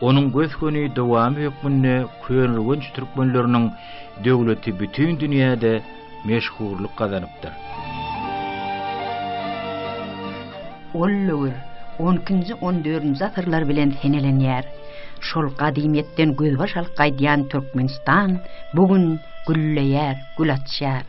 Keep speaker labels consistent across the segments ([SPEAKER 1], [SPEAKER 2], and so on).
[SPEAKER 1] Onuň gös-göni dowamy hökmünde köneürgenç türkmenleriniň döwleti bütin dünýäde meşhurlyk gazanypdyr. Ol döwür onkinji-on dördünji asyrlar bilen senelenýär. Şol gadymyýetden gözbaş alyp gaýdýan Türkmenistan bu gün gülleýär, gül açýar.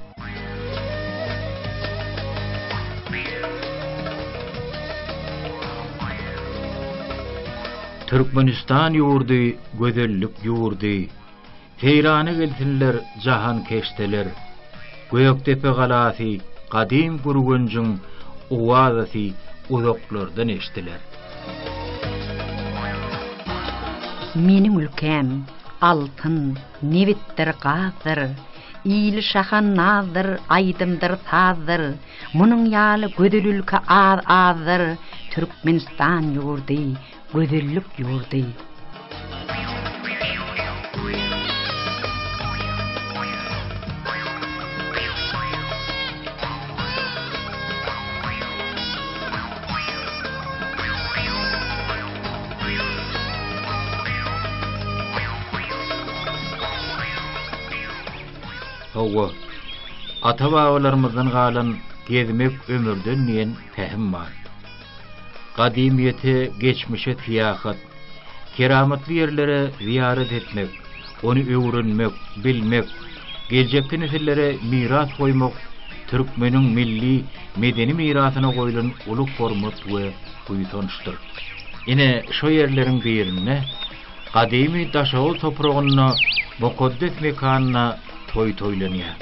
[SPEAKER 1] Türkmenistan ýurdy gözellik ýurdy, Seýrana gelsinler jahankeşdeler. Gökdepe galasy gadym Gürgenjiň owazasy uzaklardan eşdiler. Meniň ülkäm, altyn. Nebitdir, gazdyr. Ili şahan nazdyr, aýdymdyr, sazdyr. Munuň ýaly gözel ülke az-azdyr, Türkmenistan ýurdy, gözellik ýurdy. Hawa, ata-babalarymyzdan galan Gezmek ömürden diýen pähim bar. Gadymyýete, geçmişe syýahat. Keramatly ýerlere zyýarat etmek, ony öwrenmek, bilmek, geljekki nesillere miras goýmak türkmeniň milli medeni mirasyna goýlan uly hormat we buýsançdyr. Ine, şo ýerleriň birinde, gadymy Daşoguz topragynda, mukaddes mekanda, Toý toýlanýar.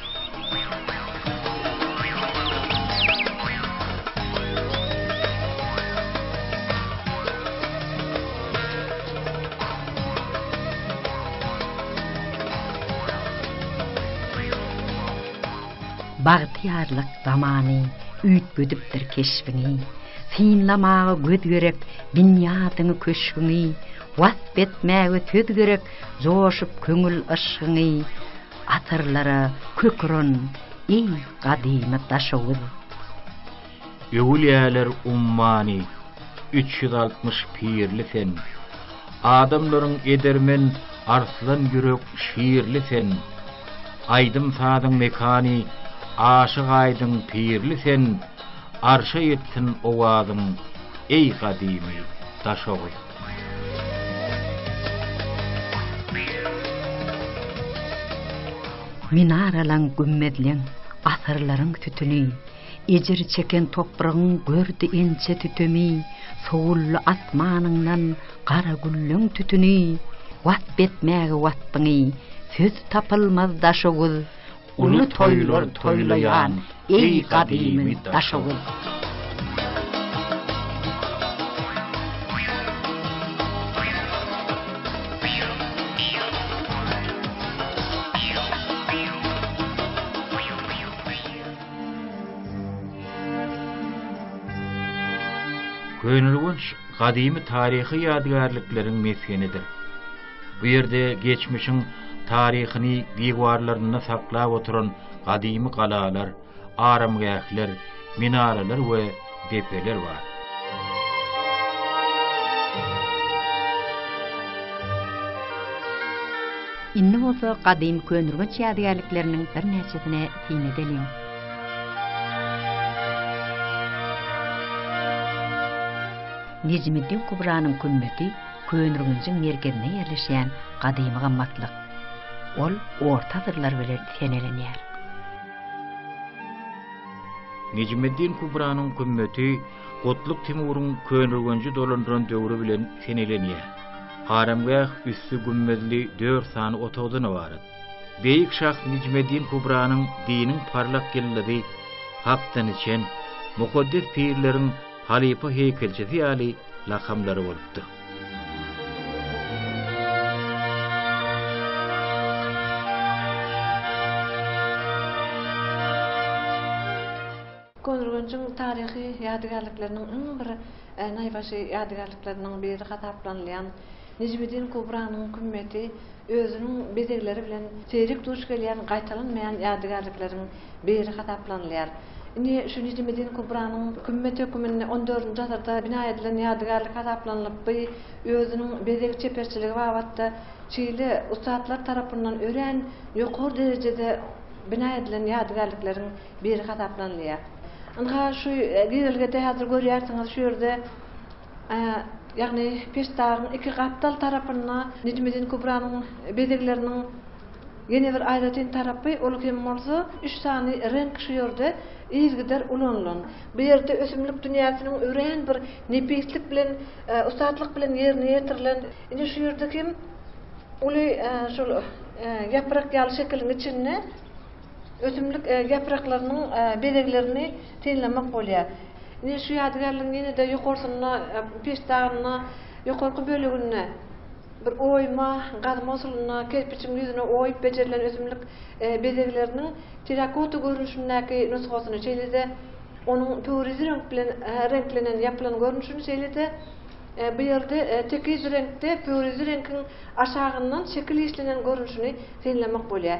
[SPEAKER 1] Bagtyýarlyk zamany üýtgedipdir keşbiňi, Synlamaga göz gerek binýadyňy-köşgüňi, Wasp etmäge söz gerek Joşup köňül yşgyňy asyrlara köküren eý gadymy Daşoguz. Öwülýäler ummany üç ýüz altmyş pirli sen, Adamlaryň edermen arslan ýürek şirli sen, Aýdym-sazyň mekany Aşyk Aýdyň pirli sen, Arşa ýetsin owazyň eý gadymy Daşoguz. Minaralaň, gümmezleň, asyrlaryň sütüni, Ejir çeken topragyň gördi inçe tütemi, Sowuldy asmanyňdan gara gülleň tütüni, Wasp etmäge wasbyňy söz tapylmaz daşoguz, Uly toýlar toýlaýan eý gadymy Daşoguz. Köneürgenç gadymy taryhy ýadygärlikleriň mesgenidir. Bu ýerde geçmişiň taryhyny diwarlarynda saklap oturan gadymy galalar, aramgähler, minaralar we depeler bar. Indi bolsa gadymy könürgenç ýadygärlikleriniň birnäçesine syn edeliň. Nejmiddin Kubranyň kümmeti Köneürgenjiň merkezinde ýerleşýän gadymy gymmatlyk. Ol orta asyrlar bilen senelenýär. Nejmeddin Kubranyň gümmeti Gutluk Timuryň Köneürgenji dolandyran döwri bilen senelenýär. Aramgäh üsti gümmezli dört sany otagdan ybarat. Beýik şah Nejmeddin Kubranyň diniň parlak ýyldyzy, hakdan içen, mukaddes pirleriň, Halypa heýkelçisi ýaly lakamlary bolupdyr. Köneürgenjiň taryhy ýadygärlikleriniň iň bir naýbaşy ýadygärlikleriniň biri hasaplanylýan Nejmiddin Kubranyň kümmeti özüniň bezegleri bilen seýrek duş gelýän gaýtalanmaýan ýadygärlikleriň biri hasaplanylýar. Indi şu Nejmiddin Kubranyň kümmet höküminde on dördünji asyrda bina edilen ýadygärlik hasaplanylyp, by özüniň bezeg çeperçiligi babatda şeýle ussatlar tarapyndan örän ýokary derejede bina edilen ýadygärlikleriň biri hasaplanylýar. Ynha, şu girelgede häzir görýärsiňiz, şu ýerde Ýagny peştagyň iki gapdal tarapynda Nejmiddin Kubranyň bezegleriniň ýene bir aýratyn tarapy, ol hem bolsa üç sany reňk şu ýerde yzygider ulanylan. Bu ýerde ösümlik dünýäsiniň örän bir nepislik bilen, ussatlyk bilen ýerine ýetirilen. Ine şu ýerde hem uly şol ýaprak ýaly şekiliň içinde ösümlik ýapraklarynyň bezeglerini. synlamak bolýar. Ine, şu ýadygärligiň ýene-de ýokarsynda, peştagynda, ýokarky böleginde bir oýma, gazma usulynda kerpiçiň ýüzüne oýup bejerilen ösümlik bezegleriniň terakota görnüşindäki nusgasyny, şeýle-de onuň pöwrizi reňk bilen reňklenen ýapylan görnüşini, şeýle-de bu ýerde tekiz reňkde pöwrizi reňkiň aşagyndan şekil işlenen görnüşini synlamak bolýar.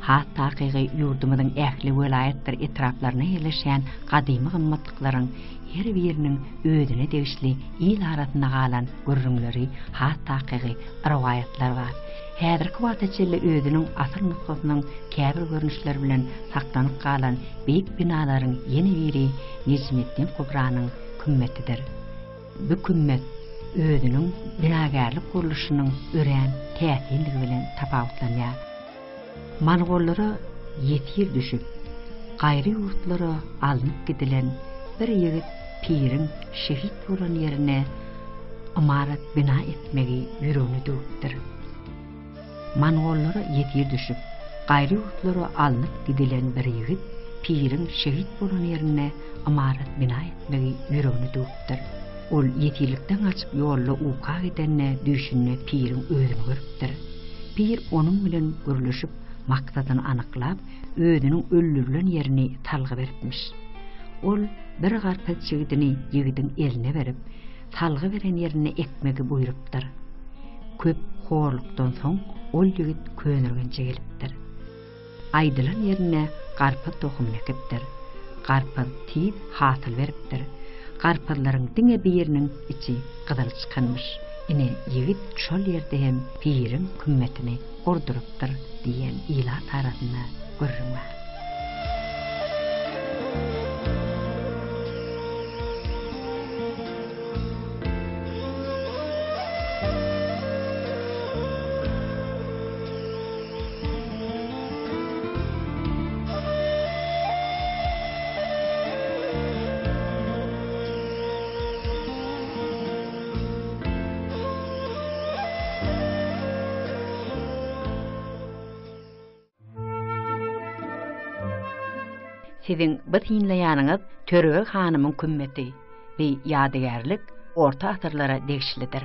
[SPEAKER 1] Has takygy, ýurdumyzyň ähli welaýatdyr etraplarynda ýerleşýän gadymy gymmatlyklaryň her biriniň özüne degişli il arasynda galan gürrüňleri, has takygy, rowaýatlar bar. Häzirki wagta çenli özüniň asyl nusgasynyň käbir görnüşleri bilen saklanyp galan beýik binalaryň ýene biri Nejmeddin Kubranyň kümmetidir. Bu kümmet özüniň binagärlik gurluşynyň örän täsindigi bilen tapawutlanýar. Mongollara ýesir düşüp, gaýry ýurtlara alnyp gidilen bir ýigit piriň şehit bolan ýerine ymarat bina etmegi ýüregine düwüpdir. Mongollara ýesir düşüp, gaýry ýurtlara alnyp gidilen bir ýigit piriň şehit bolan ýerine ymarat bina etmegi ýüregine düwüpdir. Ol ýetillikden gaçyp ýolda uka gidende düýşünde piriň özüni görüpdir. Pir onuň bilen gürleşip maksadyny anyklap, özüniň öldürilen ýerini salgy beripmiş. Ol bir garpyz çigidini ýigidiň eline berip, salgy beren ýerinde ekmegi buýrupdyr. Köp horlukdan soň ol ýigit könürgenje gelipdir. Aýdylan ýerinde garpyz tohumyny ekipdir. Garpyz tiz hasyl beripdir. Garpyzlaryň diňe biriniň içi gyzyl çykanmyş. Ine, ýigit şol ýerde hem piriň kümmetini gurdurypdyr diýen ilat arasynda gürrüň bar. Siziň bu synlaýanyňyz Törebeg hanymyň kümmeti we ýadygärlik orta asyrlara degişlidir.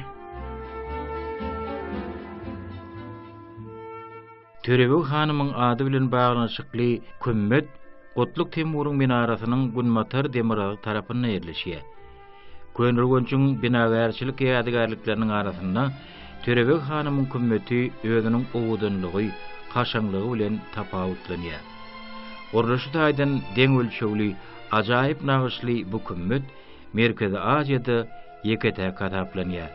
[SPEAKER 1] Törebeg hanymyň ady bilen baglanyşykly kümmet Gutluk Temuryň minarasynyň günbatar demirgazy tarapynda ýerleşýär. Köneürgenjiň binagärçilik ýadygärlikleriniň arasynda Törebeg hanymyň kümmeti özüniň owadanlygy, kaşaňlygy bilen tapawutlanýar. Gurluşy taýdan deň ölçegli, ajaýyp nagyşly bu kümmet Merkezi Aziýada ýeke-täk hasaplanýar.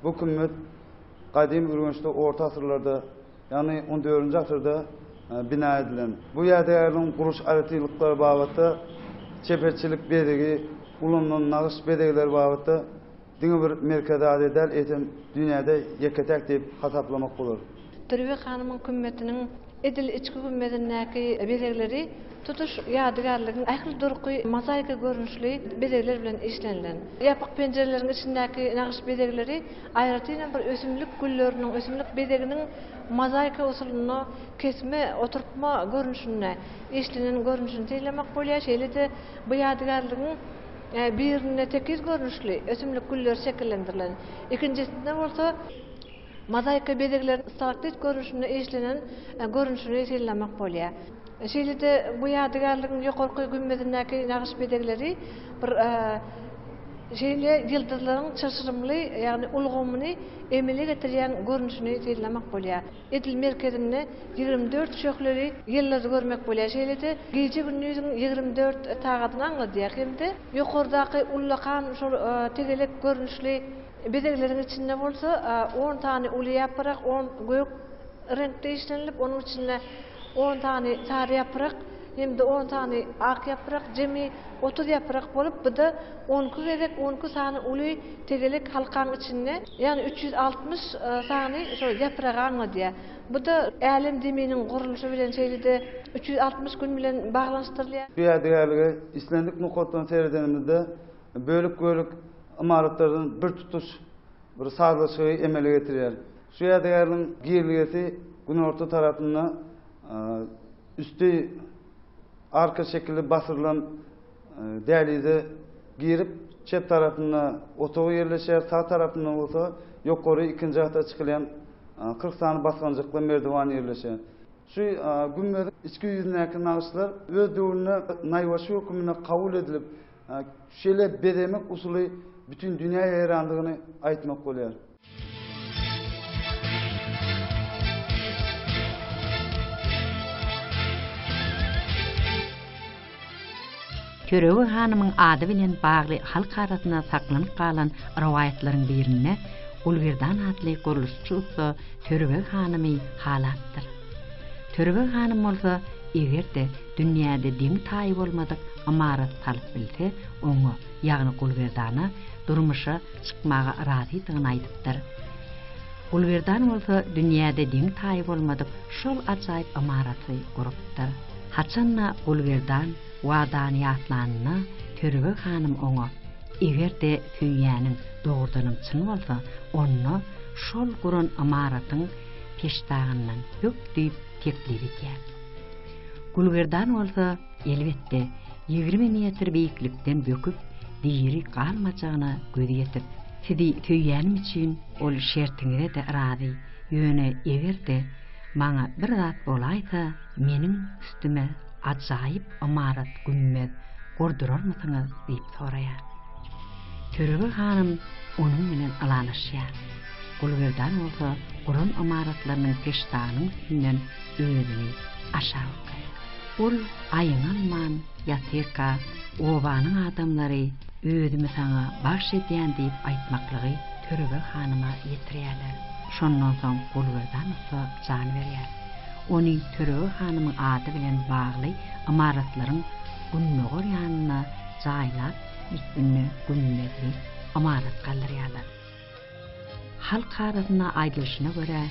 [SPEAKER 1] Bu kümmet gadymy Ürgençde orta asyrlarda, ýagny 14-nji asyrda e, bina edilen. Bu ýadygärligiň gurulyş aýratynlyklary babatda çeperçilik bezegi, ulanylan nagyş bezegleri babatda Diňe bir Merkezi Aziýa däl, eýsem, dünýäde ýeke-täk diýip hasaplamak bolar. Türbe hanymyň kümmetiniň edil içki gümmezindäki bezegleri tutuş ýadygärligiň ähli durky mozaika görnüşli bezegler bilen işlenilen. Ýapyk penjireleriň içindäki nagyş bezegleri aýratynam bir ösümlik gülleriniň, ösümlik bezeginiň mozaika usulynda kesme, oturtma görnüşinde işlenen görnüşini synlamak bolýar. Şeýle-de bu ýadygärligiň Birinde tekiz görnüşli ösümlik güller şekillendirilen, ikinjisinde bolsa mozaika bezegleriniň stalaktit görnüşinde işlenen görnüşini synlamak bolýar. Şeýle-de bu ýadygärligiň ýokarky gümmezindäki nagyş bezegleri bir şeýle ýyldyzlaryň çylşyrymly, ýagny ulgamyny emele getirýän görnüşini synlamak bolýar. Edil merkezinde ýigrimi dört şöhleli ýyldyzy görmek bolýar, şeýle-de gije-gündiziň ýigrimi dört sagadyny aňladýar hem-de ýokardaky ullakan şol tegelek görnüşli bezegleriň içinde bolsa on sany uly ýaprak, on gök reňkde işlenilip, onuň içinde on sany sary ýaprak hem-de on sany ak ýaprak, jemi otuz ýaprak bolup, bu-da on iki gezek on iki sany uly tegelek halkaň içinde, ýagny üç ýüz altmyş sany şo ýapragy aňladýar. Bu-da Älem zeminiň gurluşy bilen, şeýle-de üç ýüz altmyş gün bilen baglanyşdyrylýar. Bu ýadygärlige islendik nokatdan seredenimizde, bölek-bölek ymaratlardan birtutuş bir sazlaşygy emele getirýär. Şu ýadygärligiň girelgesi günorta tarapynda üsti arka şekilli basyrylan dälize girip, çep tarapynda otagy ýerleşýär, sag tarapynda bolsa ýokary ikinji gata çykylýan kyrk sany basgançakly merdiwan ýerleşýär. Şu gümmeziň içki ýüzündäki nagyşlar öz döwründe naýbaşy höküminde kabul edilip, şeýle bezemek usuly bütin dünýä ýaýrandygyny aýtmak bolýar. Törebeg hanymyň ady bilen bagly halk arasynda saklanyp galan rowaýatlaryň birinde Gulgerdan atly gurluşçy ussa Törebeg hanymy halapdyr. Törebeg hanym bolsa, eger-de dünýäde deňi-taýy bolmadyk ymarat salyp bilse, oňa, ýagny Gulgerdana, durmuşa çykmaga razydygyny aýdypdyr. Gulberdan bolsa dünýäde deňi-taýy bolmadyk şol ajaýyp ymaraty gurupdyr. Haçan-da Gulberdan wadany ýatlanynda Törebeg hanym oňa, Eger-de söýýäniň dogrudanam çyn bolsa, onda şol guran ymaratyň peştagyndan bök diýip teklip edýär. Gulberdan bolsa. Elbetde, ýigrimi metr beýiklikden böküp, diri galmajagyna göz ýetip. Sizi söýýänim üçin ol şertiňize-de razy. Ýöne eger-de maňa bir zat bolaýsa, meniň üstüme ajaýyp ymarat-gümmez gurdurarmysyňyz? diýip soraýar. Törebeg hanym onuň bilen ylalaşýar. Gulberdan bolsa guran ymaratlarynyň peştagynyň üstünden özüni aşak okaýar. Ol aýňalman ýatyrka, obanyň adamlary özümi saňa bagş edýän diýip aýtmaklygy Törebeg hanyma ýetirýärler. Şondan soň Gulberdan ussa jan berýär. Ony Törebeg hanymyň ady bilen bagly ymaratlaryň gündogar ýanynda jaýlap, ýitbinde gümmezli ymarat galdyrýarlar. Halk arasynda aýdylyşyna görä,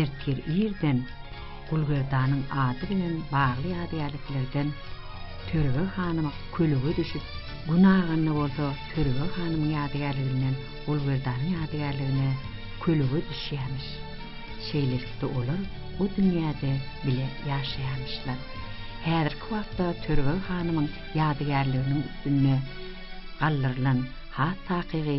[SPEAKER 1] ertir irden Gulgerdanyň ady bilen bagly ýadygärliklerden Törebe hanym kölege düşüp, gün aganda bolsa Törebe hanymyň ýadygärliginden Gulgerdanyň ýadygärligine kölege düşýämiş. Şeýlelikde olar o dünýäde bile ýaşaýamyşlar. Häzirki wagtda Törebe hanymyň ýadygärliginiň üstünde galdyrylan has takygy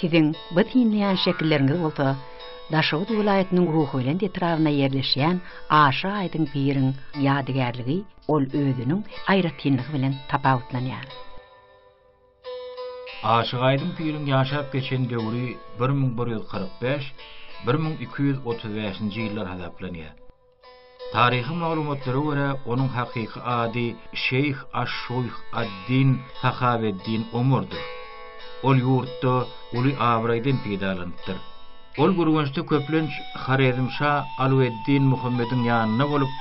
[SPEAKER 1] Siziň bu synlaýan şekilleriňiz bolsa Daşoguz welaýatynyň Ruhubelent etrabynda ýerleşýän Aşa Aýdyň piriň ýadygärligi ol özüniň aýratynlygy bilen tapawutlanýar. Aşyk Aýdyň piriň ýaşap geçen döwri bir müň bir ýüz kyrk bäş, bir müň iki ýüz otuz bäşinji ýyllar hasaplanýar. Taryhy maglumatlara görä, onuň hakyky ady Şeýh aş-Şuýh ad-Din Sahaweddin Omardyr. Ol ýurtda uly abraýdan peýdalanypdyr. Ol Gürgençde köplenç Horezmşa Alaweddin Muhammediň ýanynda bolup,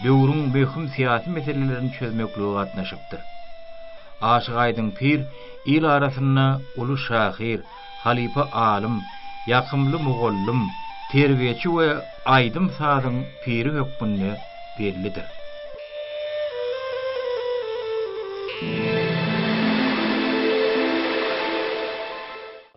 [SPEAKER 1] döwrüň möhüm syýasy meselelerini çözmeklige gatnaşypdyr. Aşyk Aýdyň pir il arasynda uly şahyr, halypa alym, ýakymly mugallym, terbiýeçi we aýdym-sazyň piri hökmünde bellidir.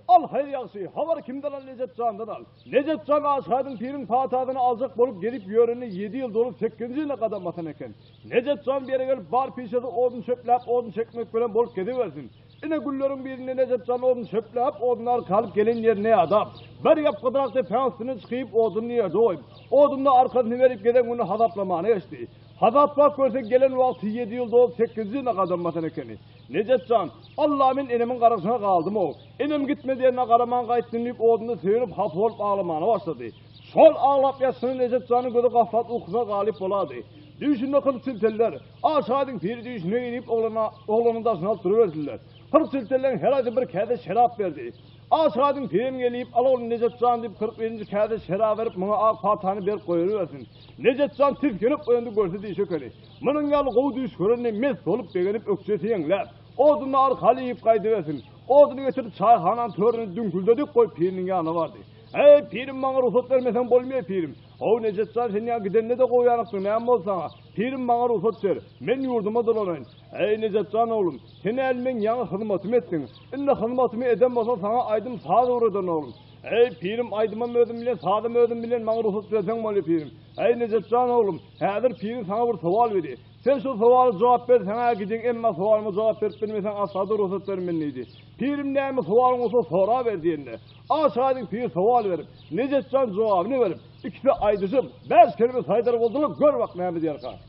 [SPEAKER 1] Al, haýyr ýagşy, habary kimden al, Nejat jandan al. Nejat jan Aşgadyň piriň patasyny aljak bolup gelip ýörenine ýedi ýyl dolup sekizinji ýylyna gadam basan eken. Nejat jan bu ýere gelip bar pişesi odun çöpläp odun çekmek bilen bolup gezibersin. Ine günleriň birinde Nejat jan odun çöpläp odun arkalyp gelen ýerine ýadap, bir ýapgydyrak depäň üstüne çykyp oduny ýerde goýup, oduna arkasyny berip gezen güni hasaplamana geçdi. Hasaplap görse gelen wagty ýedi ýyl dolup sekizinji ýylyna gadam basan ekeni. Nejat jan, Alla men enemiň garaşyna galdym-ow. Enem gitme diýenine garaman gaýtdym diýip odunda söýenip hapa bolup aglamana başlady. Şol aglap ýatyşyna Nejat janyň gözi gaflat ukusyna galyp bolady. Düýşünde kyrk çilteller, A şaýdyň piri düýşüne-eý diýip oglana, oglanyň daşyny alyp duruberdiler. Kyrk çiltelleň her aýsy bir käse şerap berdi. A şaýdyň pirim gelip, Al oglum Nejat jan diýip kyrk birinji käse şerap berip muňa ak paltany berip goýubersin. Nejat jan tisginip oýandy görse diýşi ekeni. Munuň ýaly gowy düýş görende mes bolup begenip ökjesi ýeňläp, oduny ar haly iýip gaýdybersin. Oduny getirip çaýhananyň töründe düňküldedik goýup piriniň ýanyna bardy. Eý, pirim maňa rugsat bermeseň bolmaýa pirim. How Nejat jan sen ýa gidende-de goýanykdyň näme boldy saňa? Pirim maňa rugsat ber, men ýurduma dolanaýyn. Eý, Nejat jan oglum, sen äl meň ýaňy hyzmatymy etdiň. Indi hyzmatymy eden bolsaň saňa aýdym saz öwrederin oglum. Eý, pirim aýdymam özüm bilen sazam özüm bilen maňa rugsat berseň bolýa pirim. Äý Nejatjan oglum, häzir piriň saňa bir sowal beri. Sen şol sowala jogap ber, saňa-ä gidin, emma sowalyma jogap berip bilmeseň asla-da rugsat bermen diýdi. Pirim näme sowalyň bolsa soraber diýende, aşyk-aýdyň pir sowal berip, Nejatjan jogabyny berip, ikisi aýdyşyp, bäş kelime saýdar boldular, gör bak näme diýerka.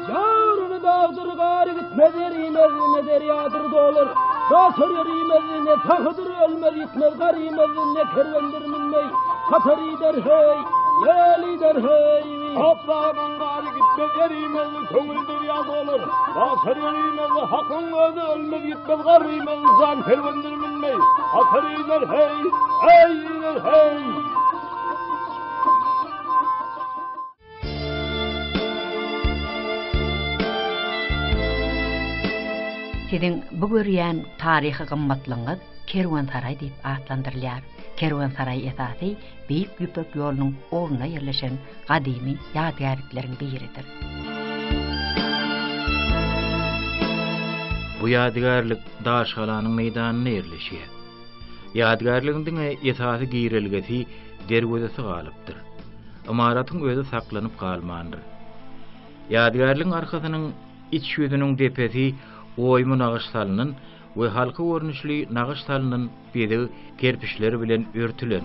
[SPEAKER 1] Ýaryny dagdyr gary gitmez erimez ne derýadyr dolar. Daşar erimez ne tahydyr ölmez gitmez garimez ne kerwendir minmey. Hatar ider hey, gel ider hey. Toprağın gari gitmez erimez köňül derýa dolar. Daşar erimez hakyň özi ölmez gitmez garimez jan kerwendir minmey. Hatar ider hey, hey ider hey. Siziň bu görýän taryhy gymmatlygyňyz Kerwensaraý diýip atlandyrylýar. Kerwensaraý esasy Beýik Ýüpek ýolunyň ugrunda ýerleşen gadymy ýadygärlikleriň biridir. Bu ýadygärlik daşgalanyň meýdanynda ýerleşýär. Ýadygärligiň diňe esasy girelgesi derwezesi galypdyr. Ymaratyň özi saklanyp galmandyr. Ýadygärligiň arkasynyň iç ýüzüniň depesi oýmy nagyş salnan we halka görnüşli nagyş salnan bezeg kerpiçleri bilen örtülen.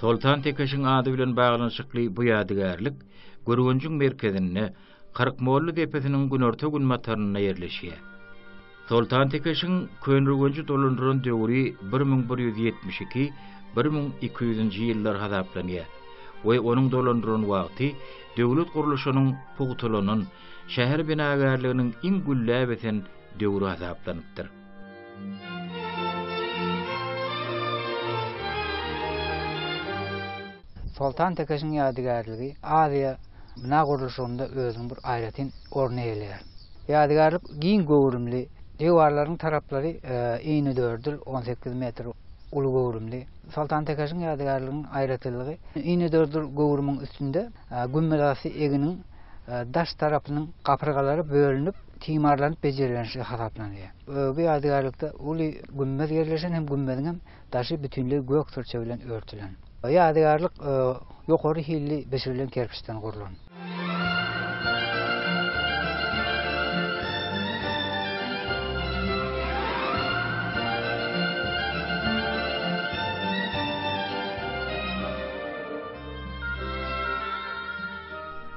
[SPEAKER 1] Soltan Tekeşiň ady bilen baglanyşykly bu ýadygärlik Gürgenjiň merkezinde, Kyrkmolly depesiniň günorta-günbatarynda ýerleşýär. Soltan Tekeşiň Köneürgenji dolandyran döwri bir müň bir ýüz ýetmiş iki, bir müň iki ýüzünji ýyllar hasaplanýar we onuň dolandyran wagty döwlet gurluşynyň pugtalanan, şäher binagärliginiň iň gülläp ösen döwri hasaplanypdyr. Soltan Tekeşiň ýadygärligi Aziýa bina gurluşygynda özüniň bir aýratyn orny eýeleýär. Ýadygärlik giň göwrümli, diwarlaryň taraplary inedördül, on sekiz metr uly göwrümli. Soltan Tekeşiň ýadygärliginiň aýratynlygy inedördül göwrümiň üstünde gümmezasy eginiň daş tarapynyň gapyrgalary bölünip, timarlanyp bejerilendigi hasaplanylýar. Ögi ýadygärlikde uly gümmez ýerleşen hem gümmeziň hem daşy bütinleý gök syrça bilen örtülen. Ýadygärlik ýokary hilli bişirilen kerpiçden gurlan.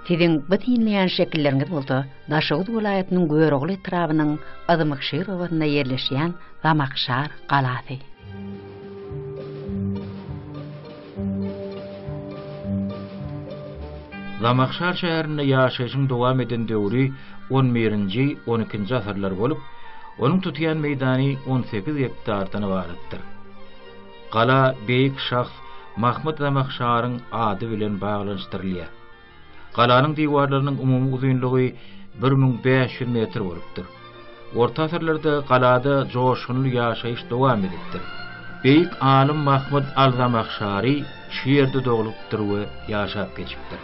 [SPEAKER 1] Siziň bu synlaýan şekilleriňiz bolsa, Daşoguz welaýatynyň Görogly etrabynyň Yzmykşir obasynda ýerleşýän Zamakşar galasy. Zamakşar şäherinde ýaşaýşyň dowam eden döwri on birinji, on ikinji asyrlar bolup, onuň tutýan meýdany on sekiz gektardan ybaratdyr. Gala beýik şahs Mahmyt Zamakşaryň ady bilen baglanyşdyrylýar. Galanyň diwarlarynyň umumy uzynlygy bir müň bäş ýüz metr bolupdyr. Orta asyrlarda galada joşgunly ýaşaýyş dowam edipdir. Beýik alym Mahmyt al-Zamahşary şu ýerde doglupdyr we ýaşap geçipdir.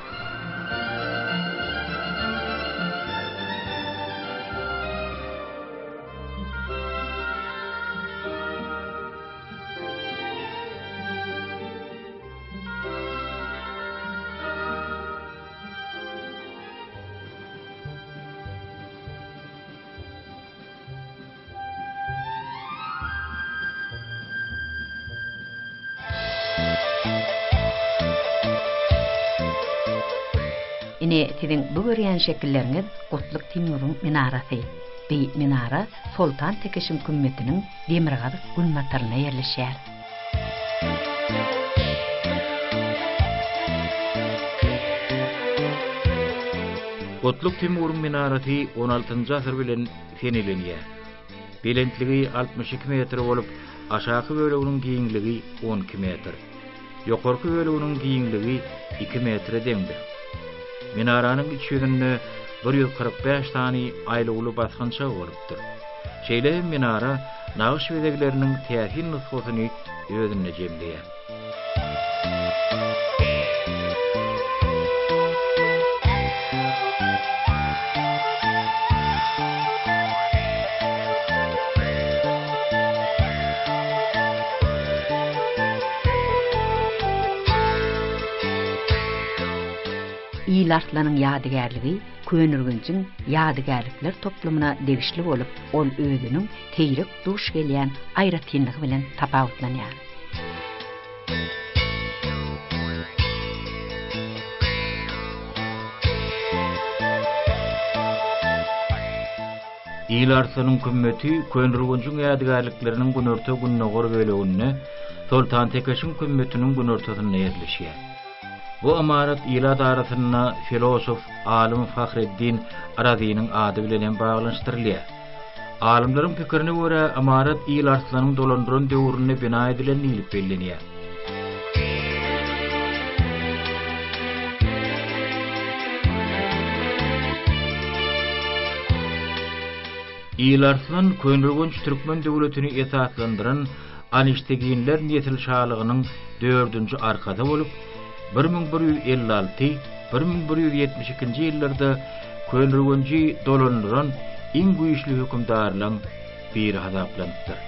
[SPEAKER 1] Ine, siziň bu görýän şekilleriňiz Gutluk Timuriň minarasy. Bi minara Soltan Tekişiň kümmetiniň demirgazyk günbataryna ýerleşýär. Gutluk Timuryň minarasy on altynjy asyr bilen senilenýär. Belentligi altmyş iki metr bolup, aşaky böleginiň giňligi on iki metr. Ýokarky böleginiň giňligi iki metre deňdir. Minaranyň iç ýüzünde bir ýüz kyrk bäş sany aýlawly basgançak bolup, döredilipdir. Şeýle hem minara nagyş bezegleriniň täsin nusgasyny özünde jemleýär. Ýylarslan-yň ýadygärligi Köneürgenjiň ýadygärlikler toplumyna degişli bolup, ol özüniň seýrek duş gelýän aýratynlygy bilen tapawutlanýar. Il Arslanyň kümmeti Köneürgenjiň ýadygärlikleriniň günorta-gündogar böleginde, Soltantekeşiň kümmetiniň günortasynda ýerleşýär. Bu ymarat ilat arasynda filosof, alym Fahreddin Razynyň ady bilen hem baglanyşdyrylýar. Alymlaryň pikirine görä, ymarat Il Arslanyň dolandyran döwründe bina edilen diýlip bellenýär. Il Arslan Köneürgenç türkmen döwletini esaslandyran Anişteginler nesil şalygynyň dördünji arkasy bolup, bir müň bir ýüz elli alty, bir müň bir ýüz ýetmiş ikinji ýyllarda Könürgenji dolandyran iň güýçli hökümdarlaň biri hasaplanypdyr.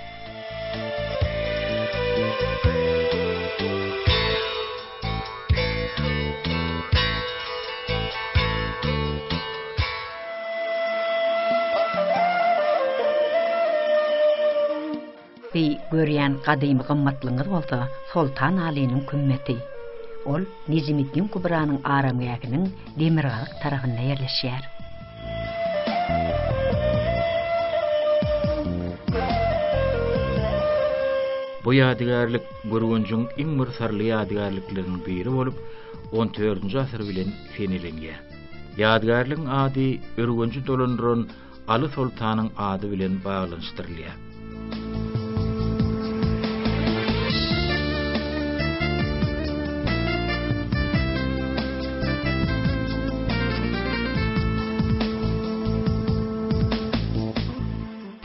[SPEAKER 1] Siz görýän gadymy gymmatlygyňyz bolsa Soltan Alynyň kümmeti. Ol Nejimiddin Kubranyň aramgähiniň demirgazyk tarapynda ýerleşýär. Bu ýadygärlik Gürgenjiň iň bir syrly ýadygärlikleriniň biri bolup, on dördünji asyr bilen seneleniýär. Ýadygärligiň ady Ürgenji dolandyran Aly soltanyň ady bilen baglanyşdyrylýar.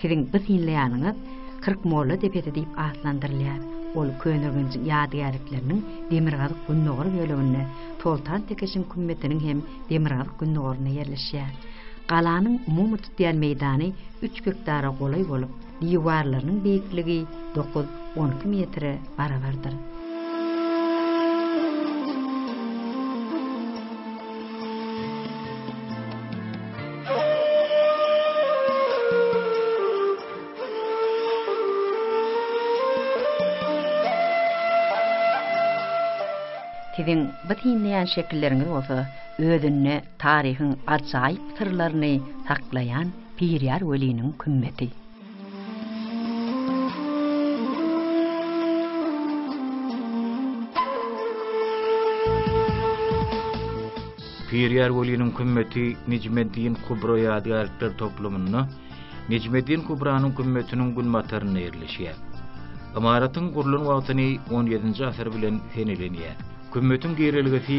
[SPEAKER 1] Siziň bu synlaýanyňyz Kyrk molla depesi diýip atlandyrylýar. Ol Köneürgenjiň ýadygärlikleriniň demirgazyk-gündogar böleginde, Soltan Tekeşiň kümmetiniň hem demirgazyk-gündogarynda ýerleşýär. Galanyň umumy tutýan meýdany üç gektara golaý bolup, diwarlarynyň beýikligi dokuz, on iki metre barabardyr. Siziň bu synlaýan şekilleriňiz bolsa özünde Taryhyň ajaýyp syrlaryny saklaýan Birýar weliniň kümmeti. Birýar weliniň kümmeti Nejmeddin Kubra ýadygärlikler toplumynda Nejmeddin Kubranyň kümmetiniň günbatarynda ýerleşýär. Ymaratyň gurlan wagtyny XVII-nji asyr bilen seneleniýär. Kümmetiň girelgesi